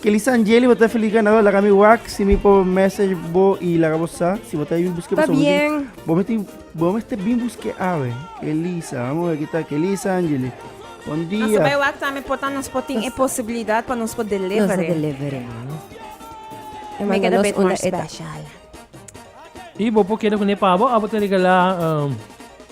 Kelly Sanjeli bo ta feliz ganador laga mi wak si mi por message bo y laga bo sa si bo ta bin busque persoon ta bien bo mester bo mester bin busque awe Kelisa vamos ver kita Kelly Sanjeli bon dia nos ta bay wak tambe por ta nos por tin e posibilidad pa nos por deliver nos deliver e make it a bit more special y bo por keda cu ne pabo abo ta regala.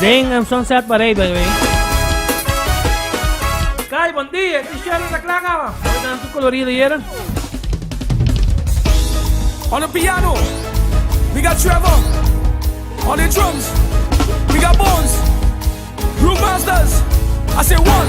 Den en Sunset Parade by the way. Kai, bon dia, e t-shirt anda klaar awa. Mooi dan tu colorido yera. On the piano, we got Trevor. On the drums, we got Bones. Brewmasters, I say one.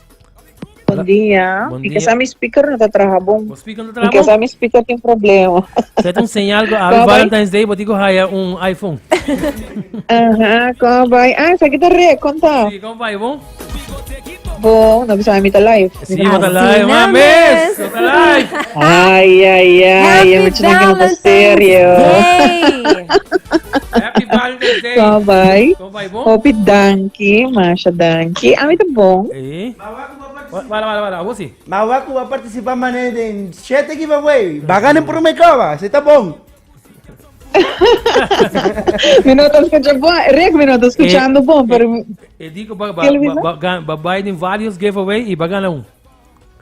Bon dia. Bon dia. Kesa mi speaker no ta traha bon. Bo speaker no ta traha bon? Kesa mi speaker tin problema. Set un señal go Happy Valentine's Day, bo tigo haya un iPhone. Aha, kom bai. Ah, sa kita re, konta. Si, kom bai bon? Bo, no bisa mi ta live. Si, mo ta live, ma mes. Mo ta live. Ay, ay, ay, yo me china que no ta serio. Happy Valentine's Day. Kom bai. Hopi danki, masha danki. Ami ta bon. Mawa ku ba partisipá mané den shete giveaway. Ba gana promé koba. Esei ta bon. Mi no ta skucha bon. Rick, mi no ta skuchando bon, pero. E di ku ba bai den vários giveaway i ba gana un.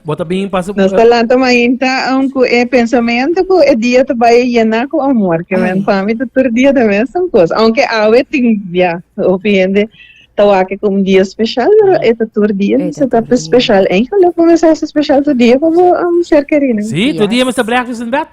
Bo ta bin pas Nos ta lanta mainta aun ku e pensamiento ku e dia ta bai yena ku amor, ke men pa mi ta tur dia ta mesun kos. Aunke awe tin ya hopi hende ta wak e ku un dia special, pero e ta tur dia mester ta special. Enkel lo bo mester hasi special tur dia pa bo ser kerinan. Si, tur dia mester brèkfast indat.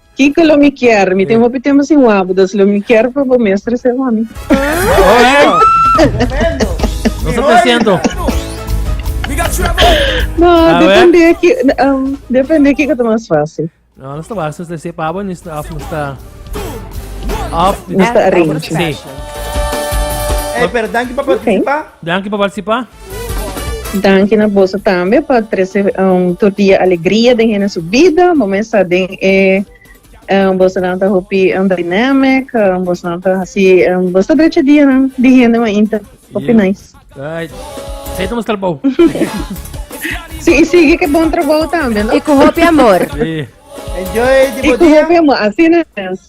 Kiko lo mi kier? Mi tin hopi tempo sin wabu, dus lo mi kier pa bo mestre se homi. No se te siento. No, depende ki, um, depende kiko te mas fácil. No, no está fácil, usted se pabo, ni está, no está. Off, no está arrange. Sí. Hey, pero dank je para participar. Dank je para participar. Danki na boso tambe pa trese um, tur dia alegria den hende su bida. Bo mesa den e um, bosonan ta hopi um, dynamic, um, bosonan ta hasi, um, boso drecha dia nan di hende ma inta. Hopi Yeah. nice. Right. Zij estamos calpau. Si, y sigue que bon trabajo también, ¿no? E ku hopi amor. Sí. Enjoy, Y tipo con día. hopi amor, así no es.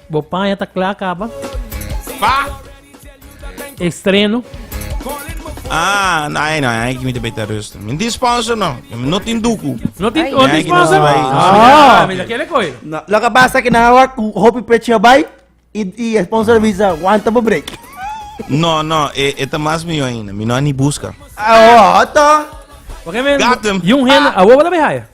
Bo paña ta kla kaba. Pa. Estreno. Ah, no, ay, no, ay, que me te beter rust. Me di sponsor, no. No tin duku. No tin, no tin sponsor. Ah, me da kele koi. Lo que pasa que na hora hopi pecho bai y y sponsor visa aguanta bo break. No, no, e, e ta mas mio ainda. Mi no ani busca. Ah, oh, to. Porque me, Got him. Yung hen, ah. a wo wala behaya.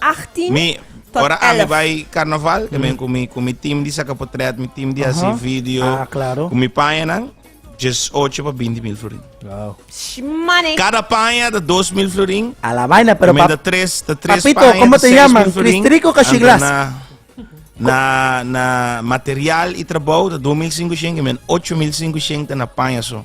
18 Mi, tot ora ami 11. bai karnaval, ke men ku mi ku mi tim di saka potrèt, mi tim di hasi Aha. video, Ah, klaro. ku mi paña nan, djes ocho pa binti mil florin. Wow. Shmane. Kada paña ta dos mil florin, A la vaina, pero men pap- ta tres, ta tres Papito, paña, como ta te seis llaman? mil florin, Cristrico o Cachiglas? anta Na, na, na material i trabou ta dos mil sinku shen, ke men ocho mil sinku shen ta na paña so.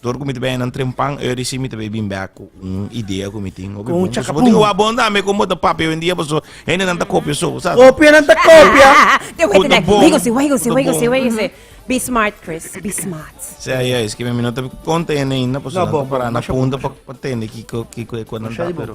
Tur ku mi ta bini nan trempan e risi mi ta bai bin bek ku un idea ku mi tin hopi bon. Con un Paso bo tin chacapun. owa bon tambe kon bo ta papia owendia paso hendenan ta kopia so, bo sa. Kopianan ta kopia. Te Ku ta weten bon, Wigglesy, ku wigglesy, ta wigglesy, bon. wigglesy. Be smart, Chris. Be smart. Sí, ai, ai, es ki mi no ta konta hende ainda paso No, nan bo, ta bo, para na masha bo, punta masha pa pa tende kiko kiko e kual nan Masha ta di bo. pero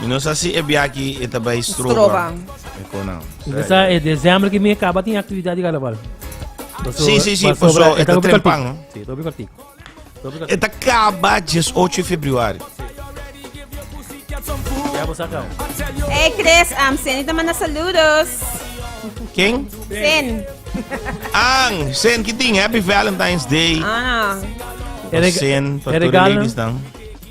Mi no sa si e bia aki e ta bai Stroban. Mi ta sa e desembro ki mes kaba tin aktividat di karnaval. Paso, si, si, si, paso e ta trempan, no? Si, ta hopi kortik. E ta kaba dies ocho di febrüari. Ya bo sa kau. Hey Chris, um, Seni ta manda saludos. Ken? Sen. Ang, Sen, ki tin? Happy Valentine's Day. Ah. Pa Sen, pa tur ladies dan.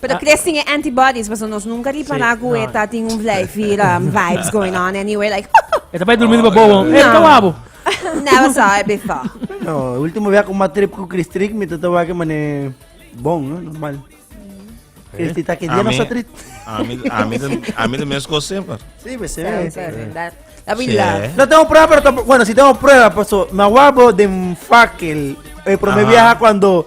Pero Chris tin e antibodies, paso nos nunca ripara cu e ta tin un vlijfi vibes going on anyway, like. E ta bai durmi riba bobo, e ta wabo. Never saw it before. No, ultimo via cu ma trip cu Chris trik mi ta ta wake mane bon, no, normal. Chris ti ta ke dia no sa trit. Ami, ami, ami de mes cos semper. Sí, pues se ve. La villa. No tengo prueba, pero tampoco, bueno, si tengo prueba, paso, ma wabo den fakel. El primer viaje cuando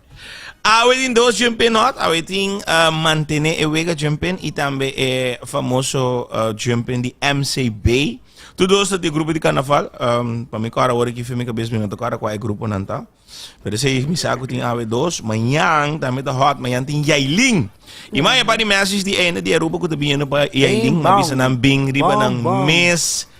Awe tin dos jumpen not, awe tin uh, mantene e wega jumpen y tambe e famoso uh, jumpen di MCB. Tu dos ta di grupo di carnaval, um, pa mi kora wori ki femi kabes mi no ta kora kwa e grupo nan ta. Pero se mi sa ku tin awe dos, mañan tambe ta hot, mañan tin Yailin. Y man e pa di message di einde di Aruba ku ta biniendo pa Yailin, Bing, ma bisa bang. nan bing riba Bang, nan bang. mes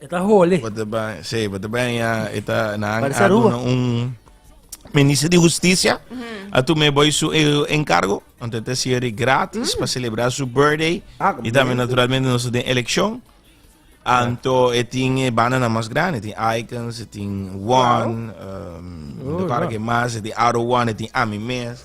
E ta hole. Bo ta ban, sí, bo ta ban ya, e ta, nan Parece a Aruba. duna un minister di justicia, a tume boy su e encargo, anto e ta hacía di gratis pa celebra su birthday, Ah, como y tambe bien. naturalmente nos ta den eleccion, anto e tin e bandanan mas grandi, e tin Icons, e tin One, um, Oh, no te para ja. que mas, e tin Aro One, e tin Ami Mes.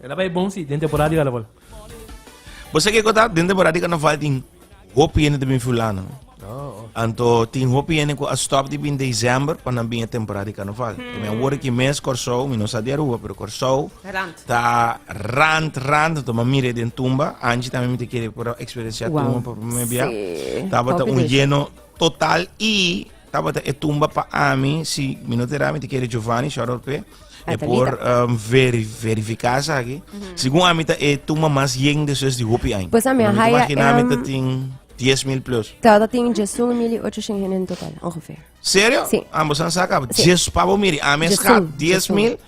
E ta bai bon si den temporada di carnaval. Bo sa kiko ta? Den temporada di carnaval tin hopi hende ta bin fulano. Oh. Anto tin hopi hende ku a stop di bin december pa nan bin e temporada di carnaval. Hmm. Mi a wor ki mes Kòrsou, mi no sa di Aruba, pero Kòrsou Rand. ta rand, rand. Anto ma mire den tumba. Angie tambe mi te kere por eksperensiá Wow. tumba por primer bia. Sí. Tabata Hopi un dicha. lleno total i Tabata e tumba pa ami si mi no tera mi te kere Giovanni shout out pe e por um, veri, verifica esaki mm -hmm. segun ami ta e tumba mas yen de sus di hopi ain pues ami a haya em... ami ta tin 10 mil plus tabata tin Jason Emilio 800 hende en total ongeveer serio? Sí. ambos han saca sí. Jes, pabo miri ami escap 10 mil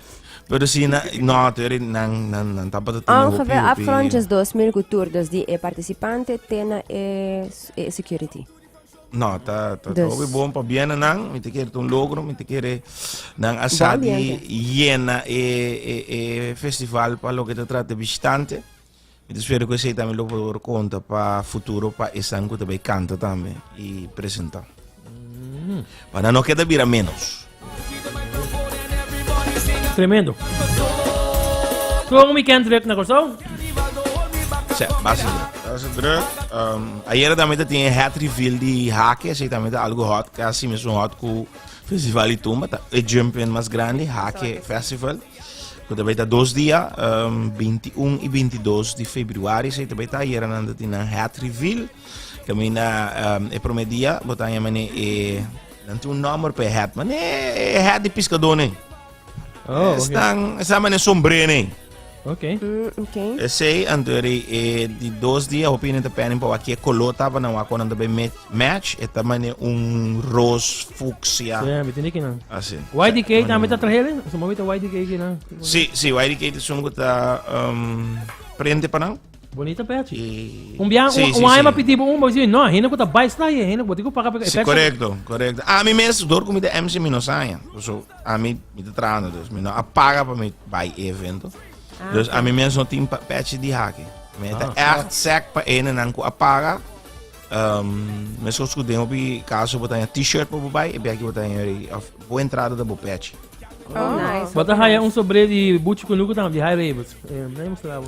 Pero si na, no, teri nan nan nan tapa te tino hopi hopi. Afgrondjes 2000 kultur, dus di e participante tena e, e security. No, ta, ta, ta hopi bon pa biena nan. Mi te kere un logro, mi te kere nan asa di yena e, e, e festival pa lo que te trata visitante. Mi te espero que sei también lo por conta pa futuro pa esan que te bay canta también y presenta. Mm. Para no queda bira menos. Tremendo. Como mi can druk na Curaçao? Sí, base druk. Base druk. Um, ayer también te tiene hat reveal di hake, así también te algo hot, casi mismo hot cu Festival y Tumba, ta el jumping más grande, hake festival. Que te beta dos días, um, 21 y 22 de februari, así te beta ayer na te tiene hat reveal. Camina um, el primer día, botan ya mene eh, Nan tin un nomber pa e hat, man e hat di piskador nen. Oh, okay. Estan, estan man e sombre nen. Okay. Mm, okay. E sei antori e di dos dia hopi nen te penin pa waki e color taba nan wako nan tabe match e ta man un roos fucsia. Ja, mi tini kinan. Asi. YDK tambe ta trahele? Suma mi ta YDK kinan. Si, si, YDK te sunu ta um, prende pa nan. Bonito pechi. Y Un biaha sí, un, sí, un aña sí. ma pidi bo un, bo dici, no, hende cu ta bai sta ahí, hende cu bo tin cu paga pe Sí, efecto. correcto, correcto. A mi mes, door cu mi ta MC, mi no saña. So, a mi, mi ta trabando, dus mi no a paga pa mi bai e evento. Ah, Dus oké. a mi mes no tin pa pechi di haki. Mi ta Ah. echt sec pa hendenan cu a paga. Um, mescos cu den hopi caso bo ta haña T-shirt pa bo bai, e bek di bo ta haña hopi, of bo entrada ta bo pechi. Oh, nice. Bo ta haya un sobré di Buchi Kunuku tambe, di High Ravens. Eh, dai mostrabo.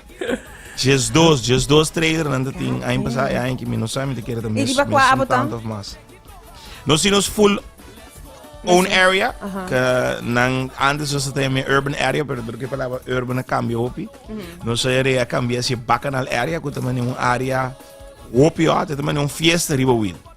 Just dos, just dos trailer nan ta tin. Aña pasá, e aña ki mi no sa, mi te kere ta mes, mes un tant of mas. No si nos full own area, ka nan antes was ta mi urban area, pero dor ke palabra urban a cambia hopi. No sa ere a cambia si bacanal area, ku ta mani un area hopi o, te ta mani un fiesta riba win.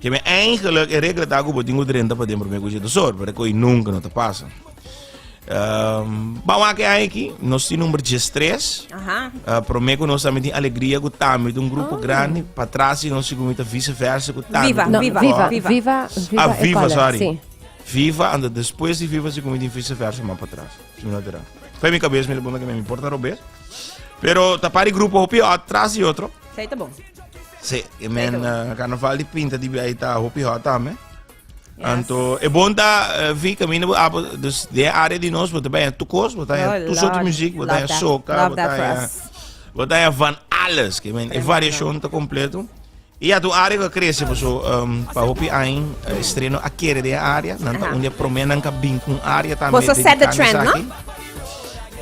Keme eingeluk e regla ta ku bo tin ku drenta pa den prome ku Jetusor, pero koi nunka no ta pasa. Um, ba wan ke ai ki, nos tin number 13. Aha. Uh, prome ku nos tambe tin alegria ku tambe un grupo oh. grande pa trasi nos si kumita vice versa ku tambe. Viva, no, viva, viva, viva, viva, viva, ah, viva, sorry. Sí. Viva, and después di viva si kumita vice versa ma pa tras. Si no terá. Foi mi cabeça me lembra que me importa robes. Pero tapari grupo hopi atrás e outro. Sei tá bom. Sí, e men uh, carnaval di pinta di bij ta hopi hot también. Yes. Anto, e bon ta uh, eh, vi camino bo apo, ah, dus de área di nos, bota bij tu kos, bota bij oh, tu soort muziek, bota bij soca, bota bij bota bij van alles, que men, e variación ta completo. E ja tu área que crece, por so, um, pa hopi ain uh, eh, estreno a kere de área, nan ta onde promé nan ka bin kun área también. Por so set the trend, no?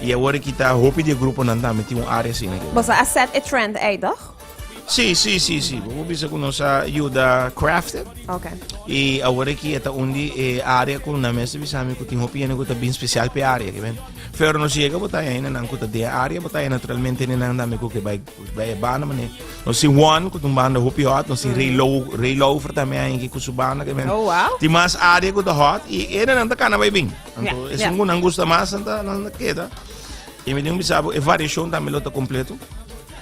E agora kita hopi de grupo nan también ti un área sin. Por so a set a trend, ei, toch? Sí, sí, sí, sí. Vamos bisa con nos ayuda crafted. Ok. Y ahora aquí está un di eh, área con na mesa bisa mi kutin hopi en kuta bien especial pe área, que ven. Pero nos llega bota en nan kuta de área bota en naturalmente en nan dame kuke bai bai banda mane. Nos si one kutum banda hopi hot, nos si rei low rei low for también en kusu banda que ven. Oh, wow. Ti mas área kuta hot y en nan ta kana bai bien. Yeah, Anto es yeah. un gunan gusta mas anta nan queda. Y me dijo mi sabo e variación también lo ta completo.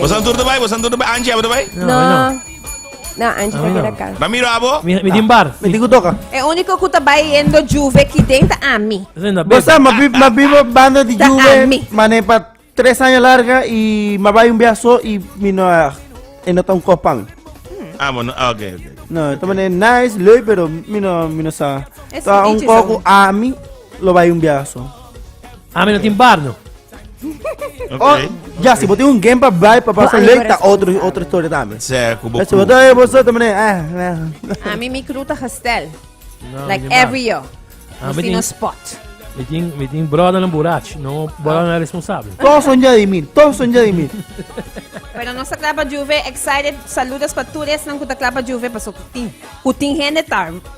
Bosan tur te bai, bosan tur te bai. Angie, abo te bai? No, no. No, Angie te queda acá. Ramiro, abo? Mi, mi tin bar. Mi tin kutoka. E único ku ta bai yendo juve ki den ta ami. Bosan, ma bi, ma bi banda di juve, mane pa tres aña larga i ma bai un biaha so i mi no a, e no ta un kos pan. Ah, bo no, ah, ok, ok. No, ta mane nice, leuk, pero mi no, mi no sa. Ta un kos ku ami lo bai un biaha so. Ami no tin bardo. Oh, ya, si bote un game pa bai, pa pasa leuk, ta otro, otro historia tambe. Se, kubo Si bote e boso tamane, eh, eh. Ami mi kruta gestel. Like every year. Ah, Nos tin un spot. Mi tin, mi tin broda na burach, no broda na responsable. Todos son ya de mí, todos son ya de mí. Pero nos a clapa juve, excited, saludos pa tur esnan ku ta clapa juve, paso tin, ku tin hende ta